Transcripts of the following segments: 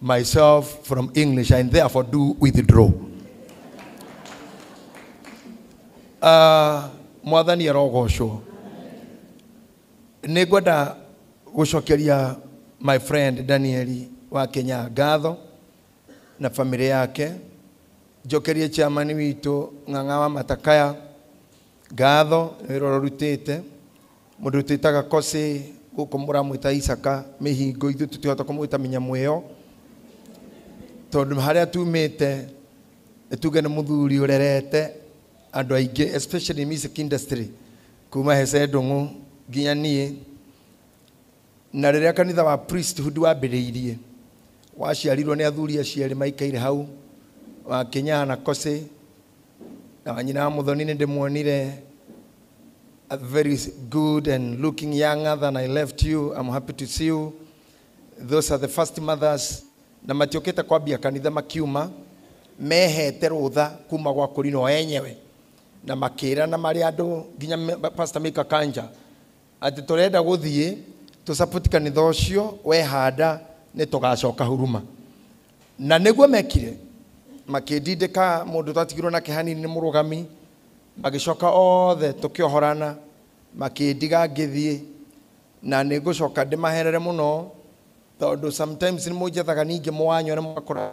myself from English and therefore do withdraw. Uh, mwathani arogocwo nä ngwenda gå cokeria my friend danieli wa kenya ngatho na bamĩrĩ yake njokerie chairman witũ ng'ang'a wa matakaya ngatho nĩ wĩra ũrĩa ũrutĩte Mũndũ twĩtaga Kosĩ, gũkũ mũramwĩta Isaka, mĩhingo ithuĩ tũtihota kũmwĩta mĩnyamũ ĩyo, tondũ harĩa tumĩte tuge nĩ mũthuri ũrerete andũ aingĩ especially music industry kuma hece ndũng'ũ nginya niĩ Na rĩrĩa kanitha wa priesthood wambĩrĩirie, waciarirwo nĩ athuri acio erĩ maikaire hau, wa Kinyaha na Kosei, na wa nyina wa Muthoni nĩ ndĩmuonire a very good and looking younger than I left you. I'm happy to see you. Those are the first mothers. Na matiũkĩte kwambia kanitha makiuma, mehete rũtha kuma gwa kũrinwo enyewe na makĩra na marĩ andũ nginya me- Pastor Mika Kanja Atĩ tũrenda gũthiĩ tũ support kanitha ũcio wehanda nĩ tũgacoka huruma. Na nĩguo mekire. Makĩndindĩka mũndũ twatigirwo nake hanini nĩ mũrũgami, magĩcoka othe tũkĩohorana, makĩndiga ngĩthiĩ. Na nĩ ngũcoka ndĩmaherere mũno tondũ sometimes nĩ mũnjethaga ningĩ mũwanyone mũgakora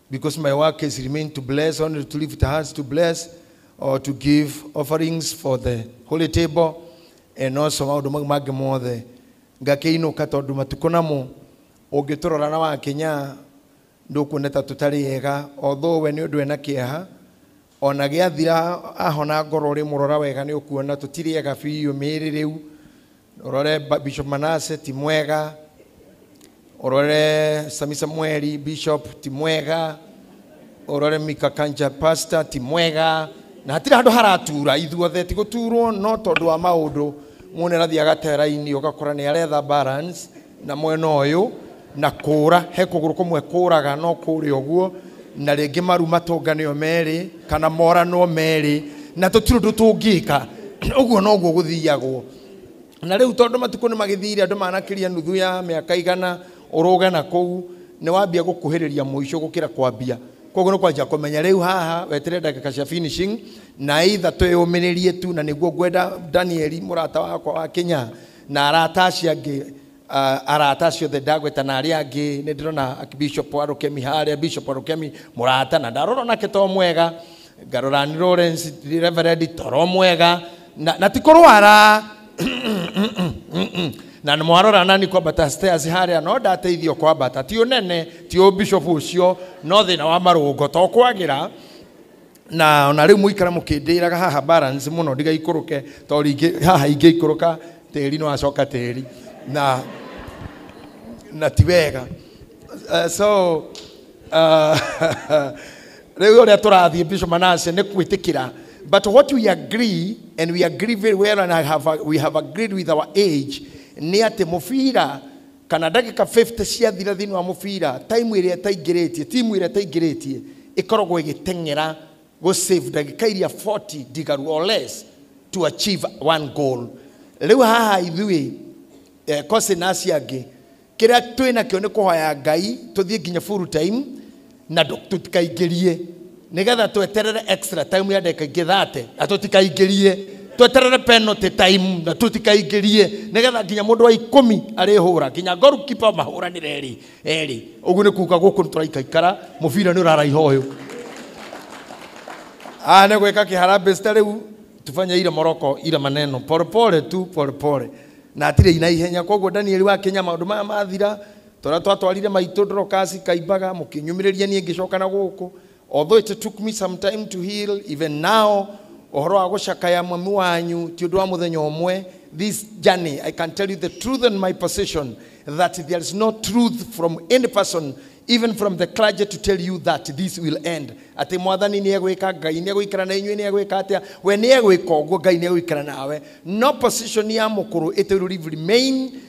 Because my work is remain to bless, only to lift hands to bless, or to give offerings for the holy table, and also maundu mau mangĩ mothe ngakĩinũka tondũ matukũ namo ũngĩtũrora na wakinya ndũkuoneta tũtarĩ ega although we nĩ ũndũ ena kĩeha O na gĩathira ahona ngoro ũrĩ mũrora wega nĩ ũkuona tũtirĩ ega biũ mĩĩrĩ rĩu ũrore Bishop Manase ti mwega ũrore Sami Samueli Bishop ti mwega ũrore Mika Kanja Pastor ti mwega na hatirĩ handũ haratura ithuothe ti gũturwo no tondũ wa maũndũ mũndũ nĩ arathiĩ agatera-inĩ ũgakora nĩ aretha balance na mwena ũyũ na kũũra he kũgũrũ kũmwe kũũraga no kũũrĩa ũguo na rĩngĩ maru matũnganĩo merĩ kana moranwo merĩ na tũtirĩ ũndũ tũngĩka ũguo noguo gũthiagwo na rĩu tondũ matukũ nĩ magĩthire andũ manakĩria nuthu ya mĩaka igana ũrũge na kũu nĩ wambia gũkuhĩrĩria mũico gũkĩra kwambia koguo nĩ kwanjia kũmenya rĩu haha wetere ndagĩka cia finishing na either twĩyũmĩrĩrie tu na nĩguo ngwenda danieli mũrata wakwa wa kenya na arata acio angĩ ah, arata acio othe ndagweta na arĩa angĩ nĩ ndĩrona bishop wa rũkemi harĩa bishop wa rũkemi mũrata na ndarora nake to mwega ngarora nĩ lawrence reverend toro mwega na, na ti kũrwara na nĩ mwarora nani kwambata stairs harĩa no ndateithio kwambata ti ũnene ti ũbishop ũcio no thĩna wa marũngo to kwagĩra na ona riu muikara mukindiraga haha balance muno ndigaikuruke to ringi haha ingĩikũrũka tĩri no acoka tĩri na na ti wega uh, so uh, riu uria turathiĩ bishop manase nĩ kwĩtĩkĩra but what we agree and we agree very well and I have, we have agreed with our age nĩ atĩ mũbira kana ndagĩka 50 ciathira thĩinĩ wa mũbira time ĩrĩa ĩtaingĩrĩtie timu ĩrĩa ĩtaingĩrĩtie ĩkoragwo ĩgĩteng'era go save ndagĩka iria 40 ndigaru or less to achieve one goal rĩu haha ithuĩ eh, Cosin na acio angĩ kĩrĩa twĩ nakĩo nĩ kũhoya ngai tũthiĩ nginya full time na tũtikaingĩrie nĩgetha tweterere extra time ya ndagĩka ingĩ thate na tũtikaingĩrie tweterere penalty time na tũtikaingĩrie nĩgetha nginya mũndũ wa ikũmi arĩhũra nginya goalkeeper mahũranĩre erĩ erĩ ũguo nĩ kuga gũkũ nĩ tũraikaikara mũbira nĩ ũraraiha ũyũ Ah, nä gwä ka kä harambä cita rä u tufanye ile moroko ile maneno polepole tu polepole na atirä ina ihenya koguo danieli wakinya maå ndå maya mathira Tũrĩa twatwarire maitũ Dorokasi Kaimbaga mũkĩnyumĩrĩria niĩ ngĩcoka na gũkũ although it took me some time to heal even now ũhoro wa gũcakaya mami wanyu ti ũndũ wa mũthenya ũmwe this journey I can tell you the truth and my position that there is no truth from any person even from the clergy to tell you that this will end atĩ mwathani nĩ egwĩka ngai nĩ egũikara na inyuĩ nĩ egwĩka atĩa we nĩ egwĩka ũguo ngai nĩ egũikara nawe no position ya mũkũrũ it will remain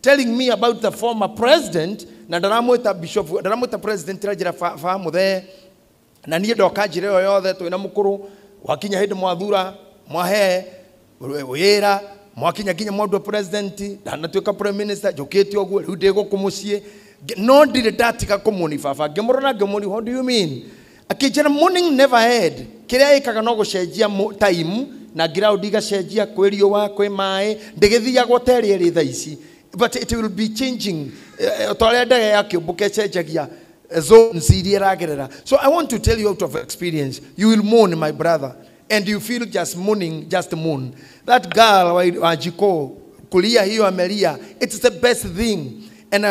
telling me about the former president na ndaramwĩta bishop ndaramwĩta president ranjĩra fa, fa mũthee na niĩ ndoka njĩra ĩyo yothe twĩ na mũkũrũ wakinya hĩndĩ mwathura mwahe wĩra mwakinya nginya mwandua president ndanatuĩka prime minister njũkĩte ũguo rĩu ndĩ gũkũ mũciĩ Nge- no ndirĩ ndatiga kũmũni baba ngĩmũrora ngĩmũni what do you mean akĩnjĩra morning never head kĩrĩa ĩkaga no gũcenjia mo- time na ground igacenjia kwĩ riũa kwĩ maĩ ndĩgĩthiagwo ta ĩrĩa ĩrĩ tha ici but it will be changing Eh, ta ũrĩa ndege ya kĩũmbũka ĩcenjagia eh, zones iria ĩragerera so i want to tell you out of experience you will mourn my brother and you feel just mourning just mourn that girl wa- wa jiko kulia hiyo amelia it's the best thing and uh,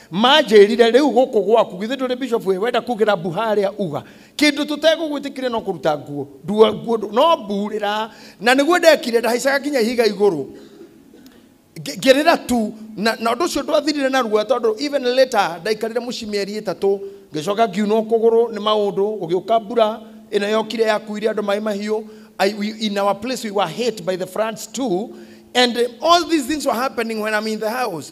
manjĩrire rĩu gũkũ gwaku githĩ ndũrĩ bishop we wenda kugĩra mbu harĩa uga kĩndũ tũtegũgwĩtĩkire no kũruta nguo ndua nguo ndũ- no mburĩra na nĩguo ndekire ndahaicaga nginya ihiga igũrũ Ngĩ- ngĩrĩra tu na na ũndũ ũcio ndwathirire na ruo tondũ even later ndaikarire mũciĩ mĩeri ĩtatũ ngĩcoka ngiunwo kũgũrũ nĩ maũndũ gũgĩũka mbura ĩno yokire yakuire andũ maĩ mahiũ I, we, in our place we were hit by the floods too and eh, all these things were happening when I'm in the house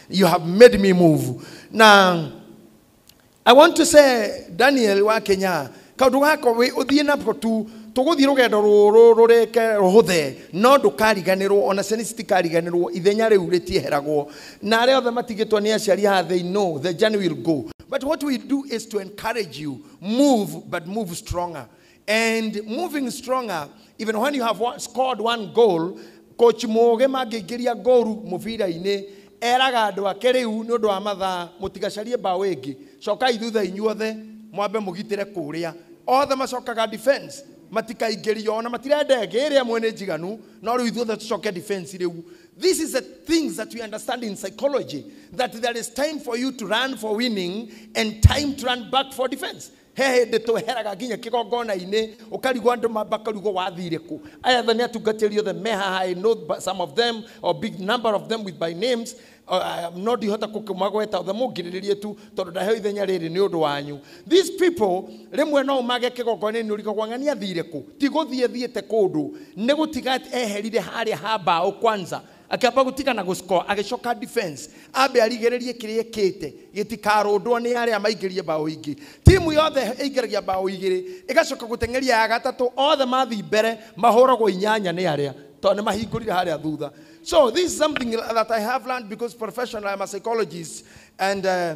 You have made me move. Now, I want to say, Daniel wa Kenya, kaundu gaka wi uthie na tu tuguthie rugendo ruru rureke ruhuthe no ndukariganirwo ona ciana citikariganirwo ithenya riu ritieheragwo na aria othe matigitwo ni aciari haha they know the journey will go but what we do is to encourage you move but move stronger and moving stronger even when you have one, scored one goal coach mũũgĩ mangĩingĩria ngoru mũbira-inĩ eraga andũ ake rĩu nĩ ũndũ wa mathaa mũtigacarie mbaũ ĩngĩ cokai thutha inyuothe mwambe mũgitĩre kũrĩa othe macokaga defense matikaingĩrio ona matirenda ĩngĩ ĩrĩa ĩmwe nĩ njiganu no rĩu ithuothe tũcoke defense rĩu this is the things that we understand in psychology that there is time for you to run for winning and time to run back for defense he hĩndĩ tweheraga nginya kĩgongona-inĩ ũkarigwo andũ mamba karigwo wathire kũ aya tha nĩ atungatĩri othe me haha I know b- some of them or big number of them with by names Uh, no ndihota kũkĩmagweta othe mũngirĩrĩrie tu tondũ ndaheo ithenya rĩrĩ nĩ ũndũ wanyu these people rĩmwe no ũmage kĩgongona-inĩ ũrigagwo ng'ani athire kũ ti gũthiĩ thiĩte kũndũ nĩ gũtiga eherire harĩa ha mbaũ kwanza Akĩamba gũtiga na gũscore, agĩcoka defense ambe arigĩrĩrie kĩrĩa ekĩte gĩtikarũndwo nĩ arĩa maingĩrie mbaũ ingĩ. Timu yothe ĩingĩragia mbaũ igĩrĩ, ĩgacoka gũteng'eria ya gatatũ, othe mathiĩ mbere mahũragwo inyanya nĩ arĩa tondũ nĩ mahingũrire harĩa thutha. So this is something that I have learned because professionally I'm a psychologist and uh,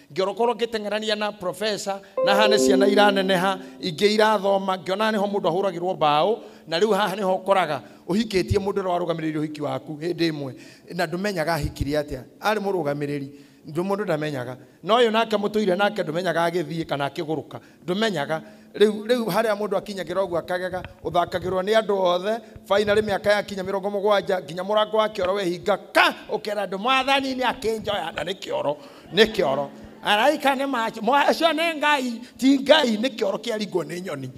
ngĩorokorwo ngĩteng'erania na profesa na hane ciana iraneneha ingĩ irathoma ngĩona nĩho mũndũ ahũragĩrwo mbaũ na rĩu haha nĩho ũkoraga ũhikĩtie mũndũ ũrĩa warũgamĩrĩire ũhiki waku hĩndĩ ĩmwe na ndũmenyaga ahikire atĩa arĩ mũrũgamĩrĩri ndũ mũndũ ndamenyaga no ũyũ nake mũtũire nake ndũmenyaga agĩthiĩ kana akĩgũrũka ndũmenyaga rĩu rĩu harĩa mũndũ akinyagĩra ũguo akagega ũthakagĩrwo nĩ andũ othe finally mĩaka yakinya mĩrongo mũgwanja nginya mũrango wa kĩoro wehinga ka ũkera andũ mwathani nĩ akĩnjoya na nĩ kĩoro nĩ kĩoro araika nĩ macio nĩ ngai ti ngai nĩ kĩoro kĩaringwo nĩ nyoni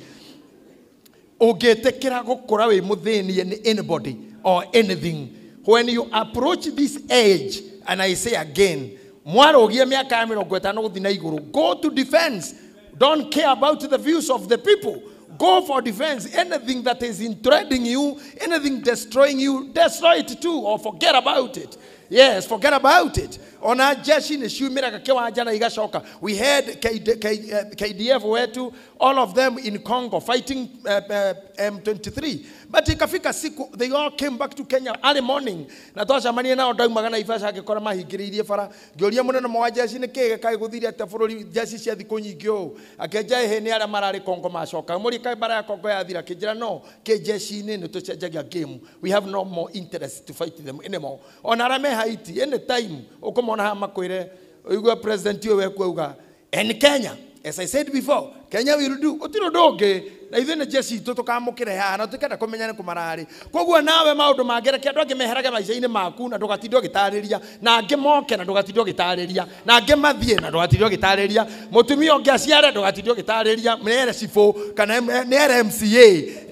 ũngĩtĩkĩra gũkũra wĩ mũthĩnie nĩ anybody or anything when you approach this age and i say again mwarũgie mĩaka ya mĩrongo ĩtano gũthi na igũrũ go to defense don't care about the views of the people go for defense anything that is entrenching you anything destroying you destroy it too or forget about it yes forget about it ona jeshi nĩ ciumĩraga kĩwanja na igacoka we had KD, K, eh, kdf wetu all of them in Congo fighting uh, uh, M23 but ikafika siku they all came back to Kenya early morning na twacamania nao ndaumaga na ibasa ngĩkora mahingĩrĩirie bara ngĩũria mũnene mwa njeci nĩ kĩĩ gĩkaĩ gũthire atĩa bũrũri njeci cia thikũ nyingĩ ũũ akĩnja ĩhĩ nĩ arĩa mararĩ Congo macoka mũri kaĩ bara ya Congo yathira kĩnjĩra no kĩ njeci-inĩ nĩ tũcenjagia game we have no more interest to fight them anymore ona arĩa me Haiti any time ũkũmona haha makwĩre ũigua president ũyũ wekuauga And Kenya, as I said before, Kenya will do. Gũtirĩ ũndũ ũngĩ na ithuĩ nĩ jeshi itũ tũkamũkĩre haha na tũkenda kũmenya nĩ kũmararĩ koguo nawe maũndũ mangereke andũ angĩ meherage maica-inĩ maku na ndũgatinde ũgĩtarĩria na angĩ moke na ndũgatinde ũgĩtarĩria na angĩ mathiĩ na ndũgatinde ũgĩtarĩria mũtumia ũngĩ aciare ndũgatinde ũgĩtarĩria nĩ ere cibũ kana nĩ ere mca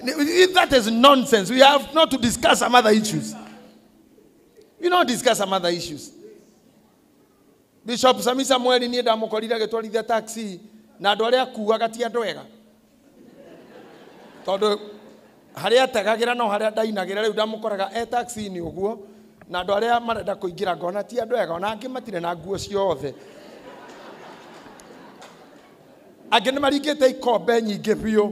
Nĩ- that is nonsense we have not to discuss some other issues we not discuss some other issues Bishop Sami Samuel niĩ ndamũkorire agĩtwarithia taxi na andũ arĩa akuaga ti andũ ega tondũ harĩa ategagĩra no harĩa ndainagĩra rĩu ndamũkoraga e taxi-inĩ ũguo na andũ arĩa marenda kũingĩra ngona ti andũ ega ona angĩ matirĩ na nguo ciothe angĩ nĩ maringĩte ikombe nyingĩ biũ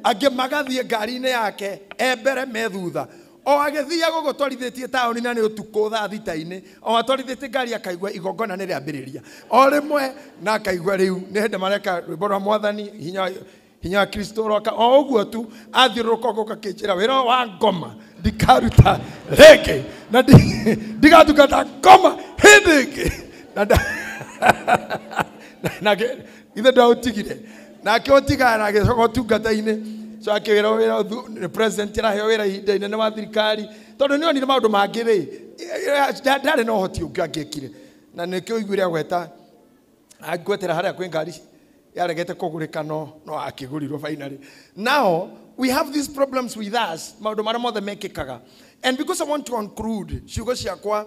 angĩ magathiĩ ngari-inĩ yake e mbere me thutha O agĩthiiaga ũguo twarithĩtie taũni na nĩ ũtukũ thaa thita-inĩ, o atwarithĩtie ngari akaigua igongona nĩ rĩambĩrĩria. O rĩmwe na akaigua rĩu nĩ hĩndĩ mareka rwĩmbo rwa mwathani hinya wa- hinya wa Kristo ũroka. O ũguo tu athiũrũrũka ũguo gakĩnjĩra wĩra ũyũ wa ngoma ndikaruta rĩngĩ na ndi- ndigatungata ngoma hĩndĩ ĩngĩ. Na nda- na- na- ithe ndaũtigire nake ũtigana na agĩcoka ũtungata-inĩ so akĩwĩra wĩra ũthu- nĩ president araheo wĩra ihinda inene wa thirikari tondũ nĩ onire maũndũ mangĩ rĩ nda- ndarĩ na ũhoti ũngĩ angĩekire na nĩkĩo ũiguire agweta angwetera harĩa kwĩ ngari yaregete kũgũrĩka no no akĩgũrirwo finally now we have these problems with us maũndũ marĩa mothe mekĩkaga and because i want to conclude ciugo ciakwa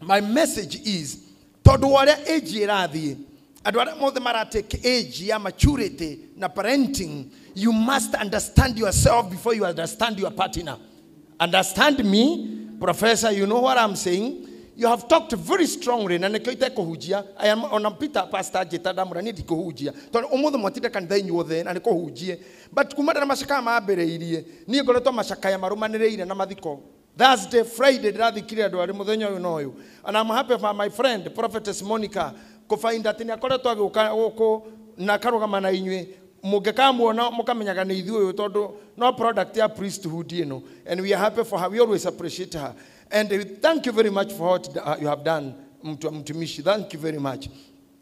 my message is tondå wa å rä a age ä rathiä andå arä a mothe maratake age ya maturity na parenting you must understand yourself before you understand your partner understand me professor you know what i'm saying you have talked very strongly na nikio itekũhunjia I am- ona peter pastor njĩta ndamũra niĩ ndikũhunjia tondũ ũmũthĩ mwatinde kanitha inyuothe na nĩkũhunjie but kumana na macakaya mambĩrĩirie niĩ ngoretwo macakaya marũmanĩrĩire na mathiko Thursday, Friday ndĩrathikire andũ arĩ mũthenya ũyũ na ũyũ. And I'm happy for my friend Prophetess Monica kũbainda atĩ nĩ akoretwo agĩũka gũkũ na akarũgama na inyuĩ mũngĩkamuona mũkamenyaga nĩ ithuĩ ũyũ tondũ no product ya priesthood ĩno and we are happy for her we always appreciate her and we thank you very much for what you have done mtu- mtumishi thank you very much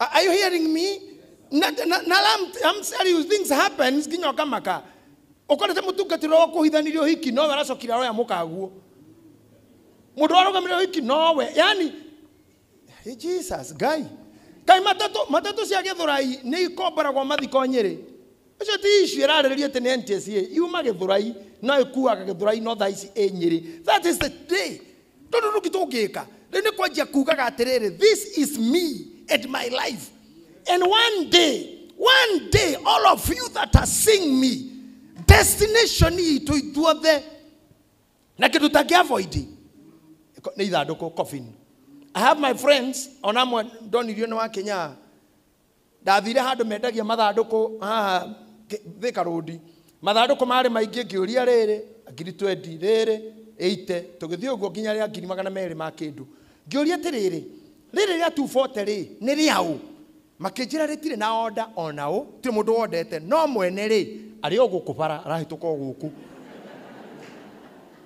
Are are you hearing me? Na, na, na I'm, I'm telling you, things happens nginya ũkamaka. Ũkorete mũtungatĩro wa kũhithanirio hiki nowe aracokire aroya mũkaguo. Mũndũ warũgamire hiki nowe. Yani, hey, Jesus, Ngai. Kai matatũ, matatũ cia gĩthũrai nĩ ikomboragwo mathiko nyĩrĩ. Ũcio ti issue ĩrarĩrĩria atĩ nĩ NTSA yuma Gĩthũrai no ĩkuaga Gĩthũrai no thaa ici ĩ Nyĩrĩ. That is the day. Tondũ nũki tũngĩka rĩu nĩ kwanjia kugaga atĩrĩrĩ this is me and my life and one day one day all of you that are seeing me destination itũ ithuothe na kĩndũ tangĩavoidi Ko- nĩ ithandũkũ coffin i have my friends ona amwe ndonirio nĩ wakinya Ndathire handũ mendagia mathandũkũ haha Thĩ- Thika Road. Mathandũkũ marĩ maingĩ ngĩũria rĩrĩ, ngiri 20, rĩrĩ, 80. Tũgĩthiĩ ũguo nginya rĩa ngiri magana merĩ ma kĩndũ. Ngĩũria atĩrĩrĩ, rĩrĩ rĩa 240 rĩ, nĩ rĩaũ? Makĩnjĩra rĩtirĩ na order o na ũ, gũtirĩ mũndũ wondete, no mwene rĩ, arĩ o gũkũ bara, arahĩtũka o gũkũ.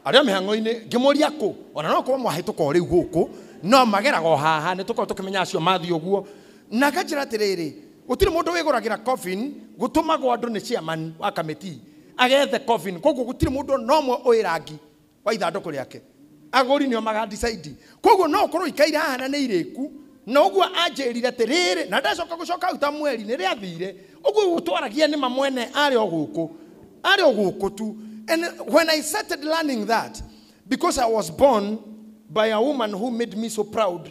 Arĩ o mĩhang'o-inĩ, ngĩmũria kũ, o na no gũkorwo mwahĩtũka o rĩu gũkũ, no mageraga o haha, nĩ tũkoragwo tũkĩmenya acio mathiĩ ũguo. Na akanjĩra atĩrĩrĩ, gũtirĩ mũndũ wĩgũragĩra coffin, gũtũmagwo andũ nĩ chairman wa kamĩtii agethe coffin, koguo gũtirĩ mũndũ ona ũmwe ũĩ rangi wa ithandũkũ rĩake, agũri nĩo maga decide. Koguo no ũkorwo ikaire haha na nĩ irĩku, na ũguo anjĩrire atĩrĩrĩ, na ndacoka gũcoka hau ta mweri nĩ rĩathire, ũguo rĩu twaragia nĩ ma mwene arĩ o gũkũ, arĩ o gũkũ tu. And when I started learning that, because I was born by a woman who made me so proud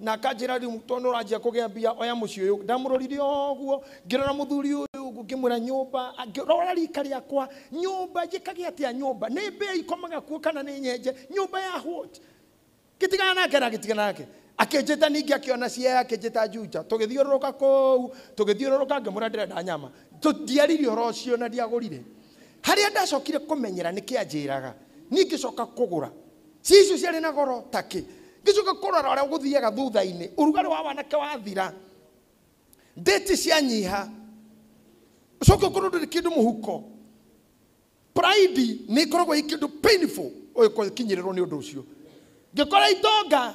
Na akanjĩra rĩu tondũ ũranjia kũgĩa mbia oya mũciĩ ũyũ. Ndamũrorire ũguo ngĩrora mũthuri ũyũ ũguo ngĩmwĩra nyũmba ngĩrora rika rĩakwa nyũmba njĩkage atĩa nyũmba nĩ mbĩa ikomaga kuo kana nĩ nyenje nyũmba ya what? Gĩtigana nake na gĩtigana nake. Akĩnjĩta ningĩ akĩona cia akĩnjĩta Juja. Tũgĩthiũrũrũka kũu tũgĩthiũrũrũka ngĩmwĩra ndĩrenda nyama. Tũ- Ndiarire ũhoro ũcio na ndiagũrire. Harĩa ndacokire kũmenyera nĩkĩanjĩraga niĩ ngĩcoka kũgũra. Ciĩ icio ciarĩ na goro ta kĩ? Ngĩcoka kũrora ũrĩa gũthiaga thutha-inĩ, ũrugarĩ wa wanake wathira, ndĩti cianyiha, ũcoke ũkorwo ndũrĩ kĩndũ mũhuko. Pride nĩ ĩkoragwo ĩ kĩndũ painful ũgĩkinyĩrĩrwo nĩ ũndũ ũcio. Ngĩkora itonga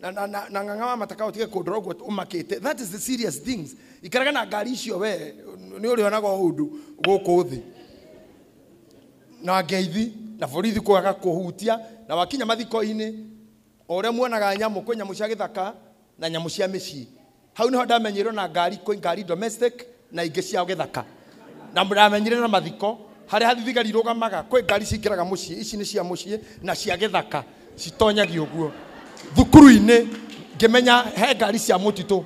na na na na ng'ang'a wa mataka utige kundora uguo umakite that is the serious things ikaraga na ngari icio we ni uri onaga undu guku thi na ngeithi na borithi kwaga kuhutia na wakinya mathiko-inĩ o ũrĩa muonaga nyamũ kwĩ nyamũ cia gĩthaka na nyamũ cia mĩciĩ Hau nĩho ndamenyirwo na ngari kũi ngari domestic na ingĩ cia gĩthaka. Na ndamenyire na mathiko harĩa thigari irũgamaga kwĩ ngari cingĩraga mũciĩ ici nĩ cia mũciĩ na cia gĩthaka citonyagio ũguo. Thukuru-inĩ ngĩmenya he ngari cia mũtitũ.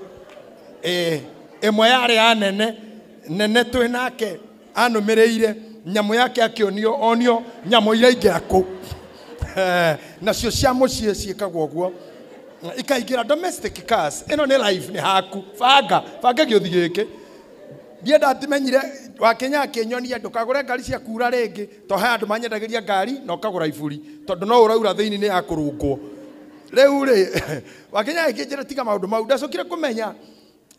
Ĩĩ ĩmwe yarĩ ya nene nene twĩ nake. Anũmĩrĩire nyamũ yake akĩonio onio nyamũ iraingĩra kũ Eh, nacio cia mũciĩ ciĩkaga ũguo ikaingĩra domestic cars ĩno nĩ live nĩ haku banga banga gĩũthi gĩkĩ ndiĩ ndatimenyire wakinya akĩnyonia ndũkagũre ngari cia kuura rĩngĩ to he andũ manyendagĩria ngari na ũkagũra iburi tondũ no ũraura thĩinĩ nĩ ya kũrũngwo rĩu rĩ wakinya agĩkĩnjĩra tiga maũndũ mau ndacokire kũmenya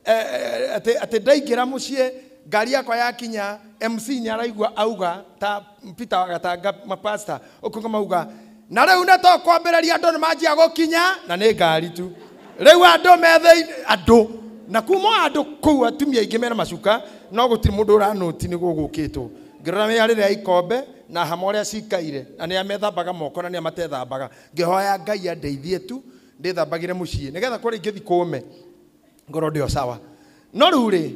Eh, eh, atĩ atĩ ndaingĩra mũciĩ ngari yakwa yakinya mc nĩ araigua auga ta peter wagatanga mapasta ũkuga mauga na rĩu nĩ tũkwambĩrĩria andũ nĩ manjia gũkinya na nĩ ngari tu rĩu andũ me thĩinĩ andũ na kuma o andũ kũu atumia aingĩ mena macuka no gũtirĩ mũndũ ũranũti nĩ gũgũkĩtwo ngĩrora mĩarĩre ya ikombe na hama ũrĩa cikaire na nĩ amethambaga moko na nĩ amatethambaga ngĩhoya ngai andeithie tu ndĩthambagĩre mũciĩ nĩgetha kũrĩa ingĩthi kũme ngoro ndio sawa no rĩu rĩ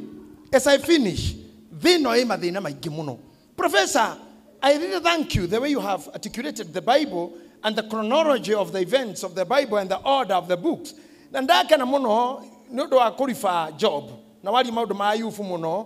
as i finish thĩ ĩno ĩ mathĩna maingĩ mũno professor i really thank you the way you have articulated the bible and the chronology of the events of the bible and the order of the books na ndakena mũno nĩ ũndũ wa kũriba job na waria maũndũ ma ayubu mũno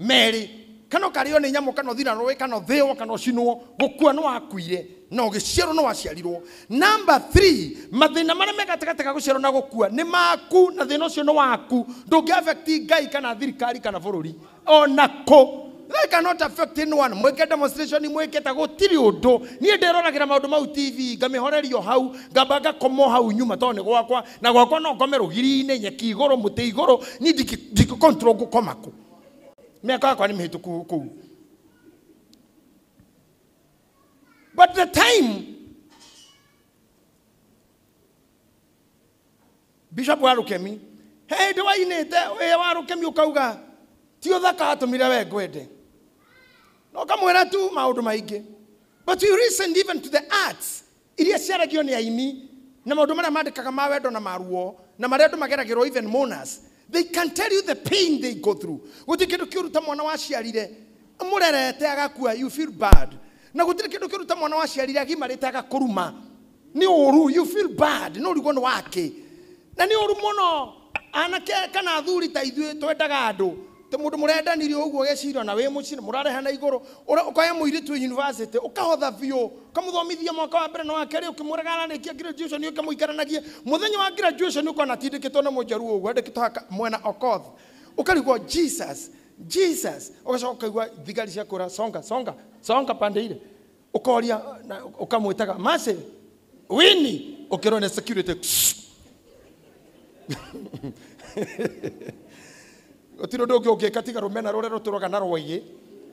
Merĩ, kana ũkarĩo nĩ nyamũ kana ũthira rũĩ kana ũthĩo kana ũcinwo gũkua nĩ wakuire na ũgĩciarwo nĩ waciarirwo namba 3 mathĩna marĩa me gatagatĩ ga gũciarwo na gũkua nĩ maku na thĩna ũcio nĩ waku ndũngĩ affect ngai kana thirikari kana bũrũri ona kũ They cannot affect anyone. Mwĩke demonstration mwĩke ta gũtirĩ ũndũ. Niĩ ndĩroragĩra maũndũ mau TV, ngamĩhorerio hau, ngamba ngakoma o hau nyuma tondũ nĩ gwakwa. na gwakwa no ngome rũgiri-inĩ nyeki igũrũ mũtĩ igũrũ niĩ ndingĩ- ndingĩkontrol ngũkoma kũ mĩaka yakwa nĩ mĩhĩtũku kũu but the time bishop wa rũkemi hĩndĩ wainĩte wĩya wa rũkemi ũkauga ti ũthaka atũmire we ngwende na ũkamwĩra tu maũndũ maingĩ but you listened even to the arts iria ciaragio nĩ aini, na maũndũ marĩa mandĩkaga ma wendo na ma ruo, na marĩa andũ mageragĩrwo even mourners, they can tell you the pain they go through. Gũtirĩ kĩndũ kĩũru ta mwana waciarire mũrerete agakua, you feel bad. Na gũtirĩ kĩndũ kĩũru ta mwana waciarire agimarĩte agakũruma, nĩ ũũru, you feel bad, nĩ ũrigwo nĩ wakĩ. Na nĩ ũũru mũno, anake kana athuri ta ithuĩ twendaga andũ, Tĩ mũndũ mũrendanirie ũguo ũgecira na wĩ mũciĩ nĩ mũrarehana igũrũ, ũra- ũkoya mũirĩtu wĩ university, ũkahotha biũ, ũkamũthomithia mwaka wa mbere na wa kerĩ, ũkĩmwĩraga ararĩkia graduation ũke mũikaranagie. Mũthenya wa graduation ũkona atindĩkĩtwo nĩ mũjaruo ũguo andĩkĩtwo haha ka- mwena Okoth. Ũkarigwo Jesus, Jesus. Ũgacoka ũkaigua thigari ciakwĩra songa, songa, songa pande ile. ukoria na ukamwitaga mase wini ukirwo ni security gutiro ndungi ungika tiga rumena ruria ruturaga na rwagi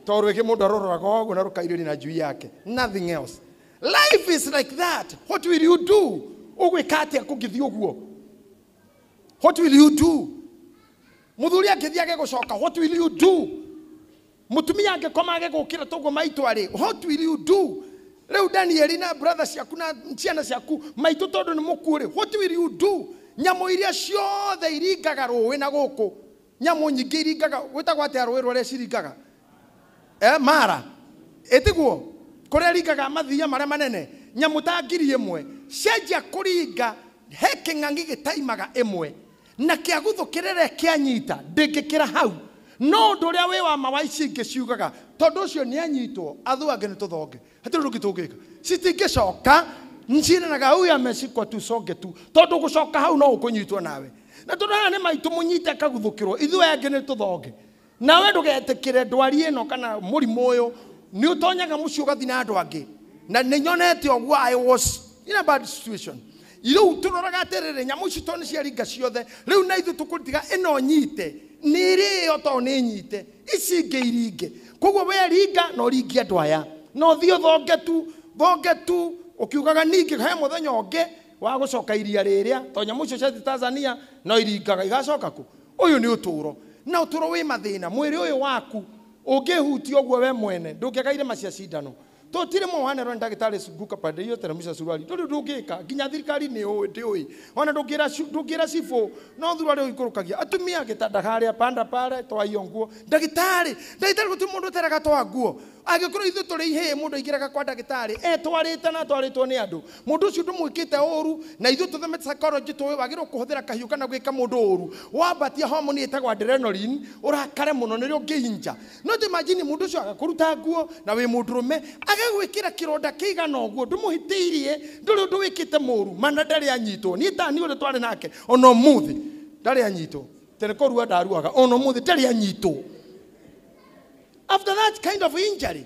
to rwigi mundu aruroraga oguo na rukairiri na njui yake nothing else life is like that what will you do ugwika atia kungithi uguo what will you do muthuri angĩthiage gũcoka what will you do Mũtumia angĩkoma age gũkĩra toguo maitũ arĩ. What will you do? Rĩu Danieli na brother ciaku na ciana ciaku maitũ tondũ nĩ mũkuũ rĩ. What will you do? Nyamũ iria ciothe iringaga rũĩ na gũkũ. Nyamũ nyingĩ iringaga gwĩtagwo atĩa rũĩ rũrĩa ciringaga? Eh, mara. Ĩtiguo kũrĩa ringaga mathiia marĩa manene. Nyamũ ta ngiri ĩmwe cianjia kũringa he kĩng'ang'i gĩtaimaga ĩmwe. na kĩa gũthũkĩrĩre kĩanyita ndĩngĩkĩra hau, no ũndũ ũrĩa wĩ wa ma wa ici ingĩ ciugaga, tondũ ũcio nĩanyitwo, athũ angĩ nĩtũthonge, hatirĩ ũndũ ũngĩ tũngĩka, citingĩcoka, cirĩraga huyu ameshikwa tusonge tu, tondũ gũcoka hau no ũkũnyitwo nawe, na tondũ haha nĩ maitũ mũnyite akaguthũkĩrwo, ithuĩ aya angĩ nĩtũthonge. nawe ndũgetikire ndwari ĩno kana mũrimũ ũyũ nĩ ũtonyaga mũciĩ ũgathi na andũ angĩ na nĩ nyonete ũguo i was in a bad situation rĩu tũroraga atĩrĩrĩ nyamũ ici to nĩ ciaringa ciothe rĩu na ithuĩ tũkũtiga ĩno nyite nĩ ĩrĩyo to nĩ nyite ici ingĩ iringe koguo we ringa na ũringie andũ aya na ũthiĩ ũthonge tu thonge tu ũkiugaga ningĩ he mũthenya ũngĩ wa gũcoka iria rĩrĩa to nyamũ icio ciathiĩ tanzania no iringaga igacoka kũ Ũyũ nĩ ũtũũro, na ũtũũro wĩ mathĩna. Mwĩrĩ ũyũ waku ũngĩĩhutia ũguo we mwene, ndũngĩaga irema cia cindano. Tũtirĩ mũhanero nĩ ndagĩtarĩ Sunguka pande hiyo teremsha suruali. Ndũrĩ ũndũ ũngĩka, nginya thirikari nĩ ũĩ, ndĩũĩ. O na ndũngĩra ci- ndũngĩra cibũ, no thura ũrĩa ũikũrũkagia. Atumia, gĩtanda harĩa, panda pale, toa hiyo nguo. Ndagĩtarĩ! Ndagĩtarĩ gũtirĩ mũndũ ũteraga toa nguo. Angĩkorwo ithuĩ tũrĩ ihĩĩ mũndũ aingĩraga kwa ndagĩtarĩ etwarĩte na atwarĩtwo nĩ andũ. Mũndũ ũcio ndũmwĩkĩte ũũru, na ithuĩ tũthemete psychology tũĩ wagĩrĩirwo kũhũthĩra kahiũ kana gwĩka mũndũ ũũru. Wambatia homoni ĩtagwo adrenaline, ũrakare mũno nĩrĩo ũngĩhinja. No ta imagine mũndũ ũcio agakũruta nguo na wĩ mũndũrũme, agagwĩkĩra kĩronda kĩigana ũguo, ndũmũhĩtĩirie, ndũrĩ ũndũ wĩkĩte mũũru, ma na ndarĩ anyitwo. Niĩ Tani ũrĩa twarĩ nake, o na ũmũthĩ ndarĩ anyitwo. Tene kũrua ndaruaga, o na ũmũthĩ ndarĩ anyitwo. After that kind of injury,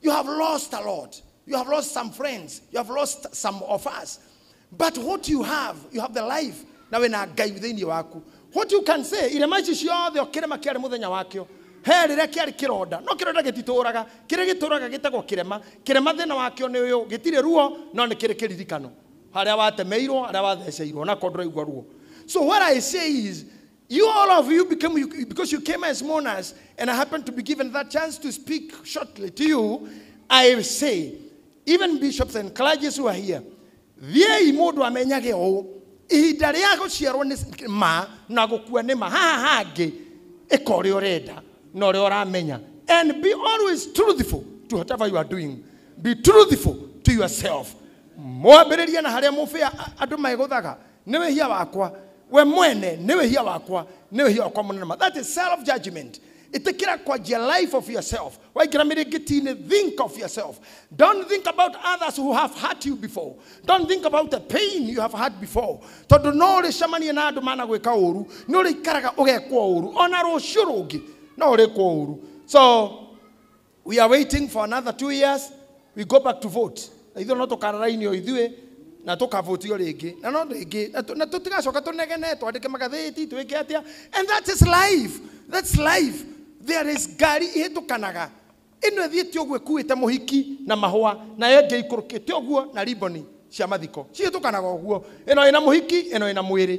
You have lost a lot. You have lost some friends. You have lost some of us. But what you have, you have the life. Na we na ngai thĩinĩ waku. What you can say, irema ici ciothe o kĩrema kĩarĩ mũthenya wakĩo. He rĩrĩa kĩarĩ kĩronda. No kĩronda gĩtitũũraga. Kĩrĩa gĩtũũraga gĩtagwo kĩrema. Kĩrema thĩna wakĩo nĩ ũyũ. Gĩtirĩ ruo, no nĩ kĩrĩ kĩririkano. Harĩa watemeirwo, harĩa watheceirwo, na ko ndũraigua ruo. So what I say is, You, all of you, became, you, because you came as mourners, and I happened to be given that chance to speak shortly to you, I say, even bishops and clergy who are here, thiai mundu amenyage ũũ ihinda rĩa gũciarwo nĩ ma na gũkua nĩ ma haha hangĩ ĩka ũrĩa ũrenda na ũrĩa ũramenya and be always truthful to whatever you are doing be truthful to yourself mwambĩrĩrie na harĩa mũbĩa a- andũ megũthaga nĩ wĩhia wakwa we mwene nĩ wĩhia wakwa nĩ wĩhia wakwa mũnene ma that is self judgment ĩtĩkĩra kwanjia life of yourself waingĩra mĩrĩngĩti-inĩ think of yourself don't think about others who have hurt you before don't think about the pain you have had before tondũ no ũrĩcemanie na andũ managwĩka ũũru nĩ ũrĩikaraga ũgekwo ũũru ona rũciũ rũngĩ no ũrĩkwo ũũru so we are waiting for another two years we go back to vote na ithuĩ no tũkararainio ithuĩ na tũkavotio rĩngĩ na no rĩngĩ na tũ- na tũtigacoka tũnegene twandĩke magathĩti twĩke atĩa and that is life that's life there is ngari ihĩtũkanaga ĩno ĩthiĩte ũguo ĩkuĩte mũhiki na mahũa nayo ĩngĩ ikũrũkĩte ũguo na riboni cia mathiko cihĩtũkanaga ũguo ĩno ĩna mũhiki ĩno ĩna mwĩrĩ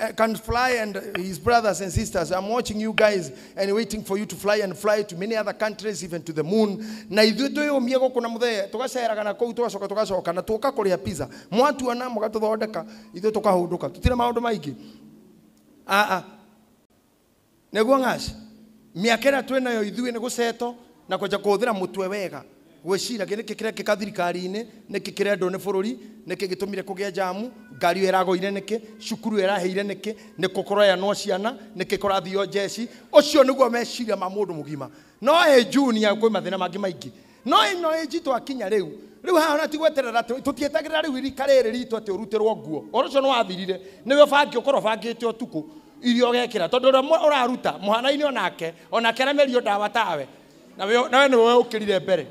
uh, can fly and his brothers and sisters i'm watching you guys and waiting for you to fly and fly to many other countries even to the moon na ithuĩ twĩyũmie gũkũ na mũthee tũgaceraga na kũu tũgacoka tũgacoka na tũka kũrĩa pizza mwatuona mũgatũthondeka ithuĩ tũkahũndũka tũtirĩ maũndũ maingĩ aa neguo ng'aci mĩaka ĩrĩa twĩ nayo ithuĩ nĩ gũceto na kwanja kũhũthĩra mũtwe wega gwĩcira gĩ nĩkĩ kĩrekĩka thirikari-inĩ nĩkĩ kĩrendwo nĩ bũrũri nĩkĩ gĩtũmire kũgĩe njamu ngari ĩyo ĩragũire nĩkĩ cukuru ĩyo ĩrahĩire nĩkĩ nĩkũ kũrayanwo ciana nĩkĩ kũrathio njeci ũcio nĩguo meciria ma mũndũ mũgima no ĩ junior kwĩ mathĩna mangĩ maingĩ no ino age twakinya riu riu haha ona ti gweterera tutietagirira riu irika riri ritu ati urutirwo nguo oro cio niwathirire niwe ubangi ukorwo ubangite utuku irio ugekira tondu uria uraruta muhanaine onake onake aramerio ndawa tawe nawe nawe niwe ukirire mbere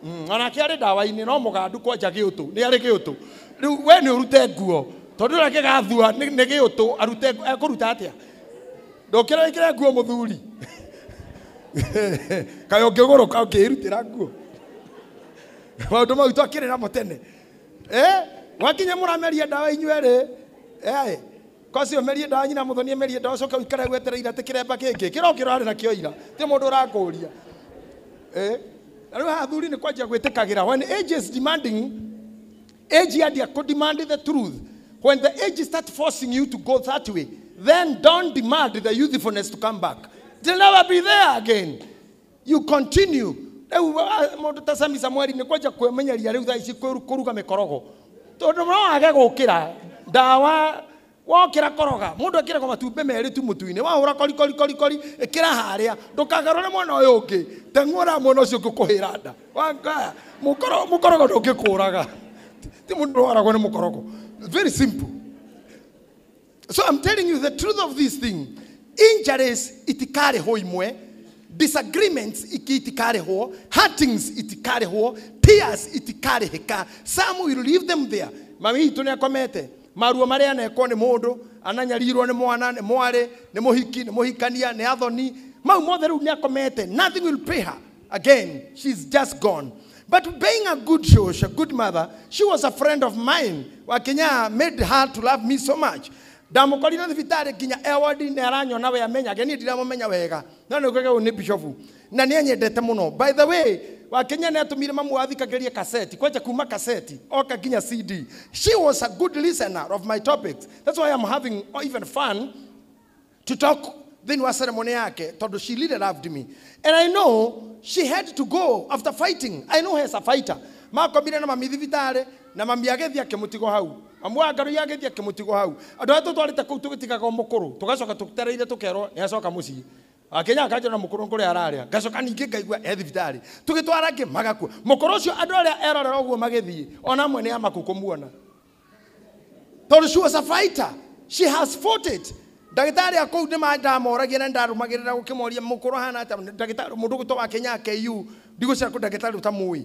mm, onake ari ndawa-ini no mugandu kwanja giutu ni ari giutu riu we ni urute nguo tondu uria gigathua ni giutu arute ekuruta atia ndokĩra wĩkĩre nguo mũthuri kayo ngĩgũrũka ngĩĩrutĩra nguo maũndũ mau twakĩrĩ namo tene Eh, gwakinya mũrameria ndawa inyuerĩ Eh, kosi ũmerie ndawa nyina mũthoni merie ndawa coka ũikare gwetereire atĩ kĩremba kĩngĩ kĩrokĩra arĩ nakĩo ira ti mũndũ ũrakũria Eh, na rĩu haha thuri nĩ kwanjia gwĩtĩkagĩra when age is demanding Age ya dia could demand the truth. When the age start forcing you to go that way, then don't demand the youthfulness to come back. They'll never be there again. You continue. Rĩu ah, mũndũ ta Sami Samueli nĩ kwanja kwĩmenyeria rĩu thaa ici kwĩru- kũruga mĩkorogo tondũ no age gũkĩra ndawa Wokĩra koroga. Mũndũ ekĩragwo matumbĩ merĩ tu mũtu-inĩ. Wahũra kori kori kori kori, ĩkĩra harĩa. Ndũkagarũre mwena ũyũ ũngĩ. Teng'ũra mwena ũcio ũngĩ ũkũhĩra nda. Wangaya. Mũkoro, mũkorogo ndũngĩkũraga. Ti mũndũ ndwaragwo nĩ mũkorogo. Very simple. So I'm telling you the truth of this thing. Injuries itikarĩhwo imwe. Disagreements iki itikarĩhwo. Hurtings itikarĩhwo. Tears itikarĩhĩka. Some will leave them there. Mami witũ nĩ akomete. Maruo marĩa anekwo nĩ mũndũ, ananyarirwo nĩ mwana, nĩ mwarĩ, nĩ mũhiki, nĩ mũhikania, nĩ athoni, mau mothe rĩu nĩ akomete. Nothing will pay her again. She's just gone. But being a good shosh, a good mother, she was a friend of mine. Wakinya made her to love me so much. Ndamũkorire thibitarĩ nginya e ward nĩ aranyona we amenyage niĩ ndiramũmenya wega. No nĩ kuga ũyũ nĩ bishofu. na nä anyendete må no by the way wakenya nä atå mire mamu wathikagä rie kaseti kwanja kuma kaseti oka nginya cd she was a good listener of my topics that's why I'm having even fun to talk thĩinĩ wa ceremony yake tondũ she really loved me and i know she had to go after fighting i know her as a fighter makomire na mami thibitarĩ na mami agĩthiĩ akĩmũtigo hau mamu wa ngarũi agĩthiĩ akĩmũtigo hau andũ arĩa tũtwarĩte kũu tũgĩtigaga mũkũrũ tũgacoka tũtereire tũkerwo nĩ acoka mũciĩ Akenyaga akajona mũkũrũ kũrĩa ararĩa, ngacoka ningĩ ngaigua e thibitarĩ. Tũgĩtwara angĩ magakua. Mũkũrũ ũcio andũ arĩa erorera ũguo magĩthiĩ, o na amwe nĩ amakũ kũmuona. Tondũ she was a fighter. She has fought it. Ndagĩtarĩ a kũu nĩ ma- ndamoragia na ndarũmagĩrĩra gũkĩmoria mũkũrũ ahana atĩa, ndagĩtarĩ mũndũ ũgwĩtwo Wakenyaga KU, ndigwĩciria kũ ndagĩtarĩ ũtamũĩ.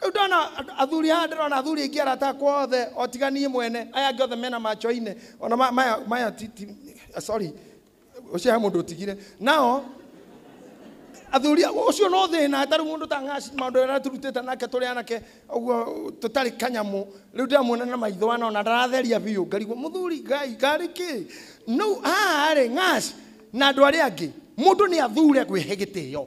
Rĩu ndona andũ- athuri haha ndĩrona athuri aingĩ arata akwa othe o tiga niĩ mwene aya angĩ othe mena machoine ona ma- maya maya ti ti sorry ũcio he mũndũ ũtigire nao athuri ũcio no thĩna tarĩ mũndũ ta ng'aci maũndũ arĩa tũrutĩte nake tũrĩ anake ũguo tũtarĩ kanyamũ rĩu ndĩramuona na maitho ana ona ndaratheria biũ ngarigwo mũthuri ngai ngarĩ kĩ no haha rĩ ng'aci na andũ arĩa angĩ mũndũ nĩ athure kwĩhe gĩtĩo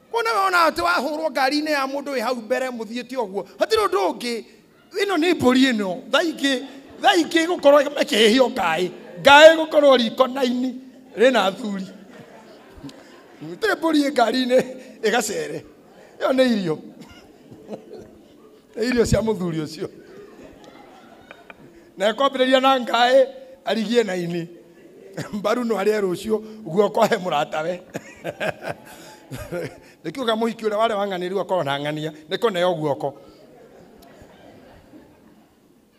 Kuona we wona atĩ wahũrwo ngari-inĩ ya mũndũ wĩ hau mbere mũthiĩte ũguo hatirĩ ũndũ ũngĩ ĩno nĩ mbũri ĩno thaa ingĩ thaa ingĩ gũkorwo ĩkĩhĩhio ngaĩ ngaĩ gũkorwo riko naini rĩna athuri gũtirĩ mbũri ĩ ngari-inĩ ĩgacere ĩyo nĩ irio nĩ irio cia mũthuri ũcio na ekwambĩrĩria na ngaĩ arigie na ini mbaru no arĩa rũciũ guoko he mũratawe nĩ kiuga mũhiki ũrĩa warĩa wang'anĩru akorwo na ng'ania nĩ kũneo guoko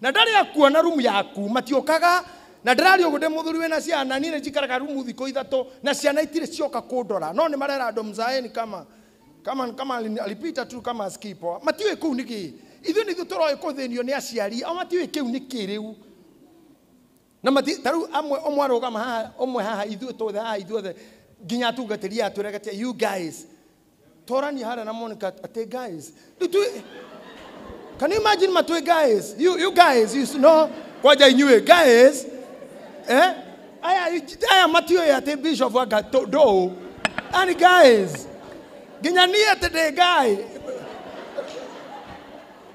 na ndarĩ akuona rumu yaku matiũkaga na ndĩrarĩ ũguo ndĩ mũthuri wĩna ciana niĩ nĩnjikaraga rumu thikũ ithatũ na ciana itirĩ cioka kũndora no nĩ marera andũ mzaeni kama kama kama alipita tu kama skipo matiũĩ kũu nĩ gĩ ithuĩ nĩ ithuĩ tũroĩ kũthĩnio nĩ aciari ao matiũĩ kĩu nĩ kĩ rĩu na mati ta rĩu amwe ũmwe arũgama haha ũmwe haha ithuĩ tũothe haha ithuothe nginya atungatĩri aya twĩraga atĩa you guys torania harĩa na monica atĩ guys rĩu tu can you imagine matwĩ guys you, you guys you know kwanja inyuĩ guys eh aya aya matiũĩ atĩ bishop anga tũ- ndũũ ani guys nginya niĩ atĩ ndĩ guy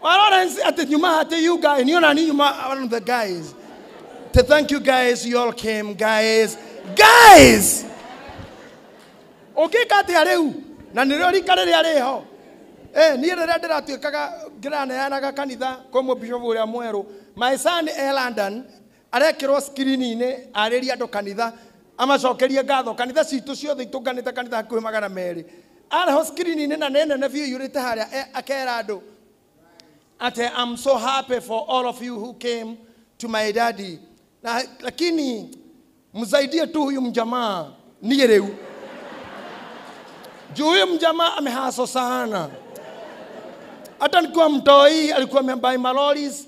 Lawrence at the Yuma at the you guy and you know Yuma one of the guys. To thank you guys, you all came, guys. Guys! Ũngĩka atĩa rĩu? Na nĩrĩo rika rĩrĩa rĩho. Eh, niĩ rĩrĩa ndĩratuĩkaga ngĩraneanaga kanitha kwĩ mũbishobu ũrĩa mwerũ. My son e London, Arekĩrwo screen-inĩ arĩrie andũ kanitha, amacokerie ngatho. Kanitha citũ ciothe itũnganĩte kanitha hakuhĩ magana merĩ. Arehwo screen-inĩ na nĩ nene biũ ĩiyũrĩte harĩa e, akera andũ atĩ I'm so happy for all of you who came to my daddy. Na, lakini msaidie tu huyu mjamaa niĩ rĩu. Juu huyu mjamaa amehaso sana. Hata nikiwa mtoi alikuwa amebuy maloris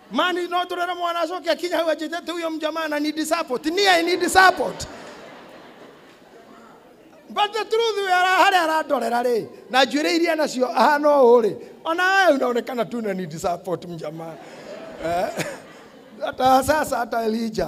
mani no turere mwana acoke akinya hau anjĩtĩte uyo mjamaa na need support me i need support but the truth we ara harĩa arandorera rĩ na njuĩrĩ iria nacio ahana ũũ rĩ ona we unaonekana tu na need support mjamaa Eh, hata sasa hata elija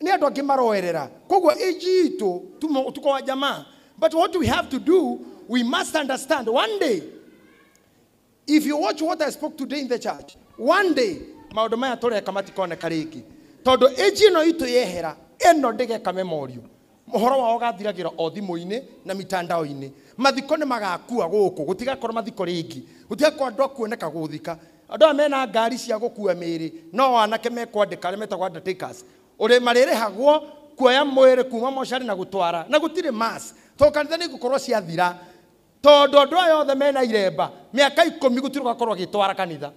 Nĩ andũ angĩ maroerera. Koguo age itũ tumo- tuko wa jamaa. But what we have to do, we must understand one day if you watch what I spoke today in the church, one day maũndũ maya tũreka matikoneka rĩngĩ tondũ age ĩno itũ yehera ĩno ndĩgeka memorio ũhoro wao gathiragĩra o thimũ-inĩ na mitandao-inĩ mathiko nĩ magakua gũkũ gũtigakorwo mathiko rĩngĩ gũtigakorwo andũ akuoneka gũthika Andũ aya mena ngaari cia gũkuua mĩĩrĩ no o anake mekwandĩka arĩa metagwo undertakers. Ũrĩ marĩrĩhagwo kuoya mwĩrĩ kuuma mocarĩ na gũtwara. Na gũtirĩ mass. Tondũ kanitha nĩ igũkorwo ciathira. Tondũ andũ aya othe mena iremba, mĩaka ikũmi gũtirĩ ũgakorwo agĩtwara kanitha.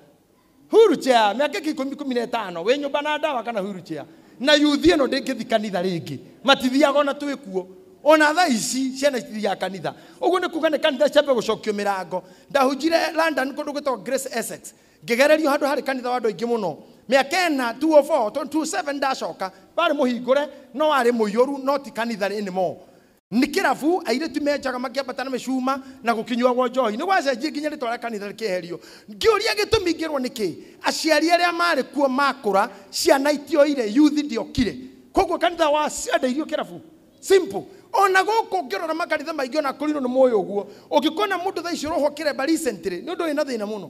Wheelchair, mĩaka ĩngĩ ikũmi, ikũmi na ĩtano, wĩ nyũmba na ndawa kana wheelchair. na yuthi ĩno ndĩngĩthi kanitha rĩngĩ matithiaga ona twĩ kuo ona tha ici ciana citithiaga kanitha ũguo nĩ kuga nĩ kanitha ciambe gũcokio mĩrango ndahunjire london kũndũ gwĩtagwo grace essex ngĩgererio handũ harĩ kanitha wa andũ aingĩ mũno mĩaka ĩna 204 27 ndacoka warĩ mũhingũre no warĩ mũiyũru no ti kanitha anymore nĩ kĩrabu airĩtu menjaga makĩambata na mĩcuma na gũkinyuagwo njohi nĩ gwacenjie nginya rĩtwa rĩa kanitha rĩkĩeherio ngĩũria gĩtũmi ngĩrwo nĩkĩ aciari arĩa marĩ kuo makũra ciana itioire yuthi ndiokire koguo kanitha wa ciandeirio kĩrabu simple ona gũkũ ngĩrora makanitha maingĩ ona kũrinũ nĩ mũĩ ũguo ũngĩkona mũndũ thaa ici ũrohwo kĩremba recently nĩ ũndũ wĩna thĩna mũno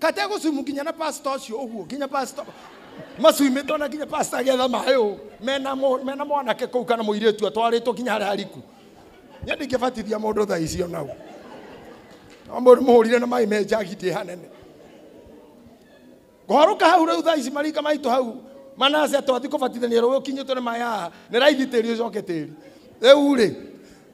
kate gũcumu nginya na pasta ũcio ũguo nginya pasta macuimĩtwo na nginya pasta agetha maĩ ũ mena mũ- mena mwanake kũu kana mũirĩtu atwarĩtwo nginya harĩa hariku niĩ ndingĩbatithia mũndũ thaa icio nau no mũndũ mũhũrire na maĩ me njagi ndĩ hanene kũharũka hau rĩu thaa ici marika maitũ hau manase twathi kũbatithania rũĩ ũkinyĩtwo nĩ maya nĩ raithi tĩri ũcoke tĩri rĩu rĩ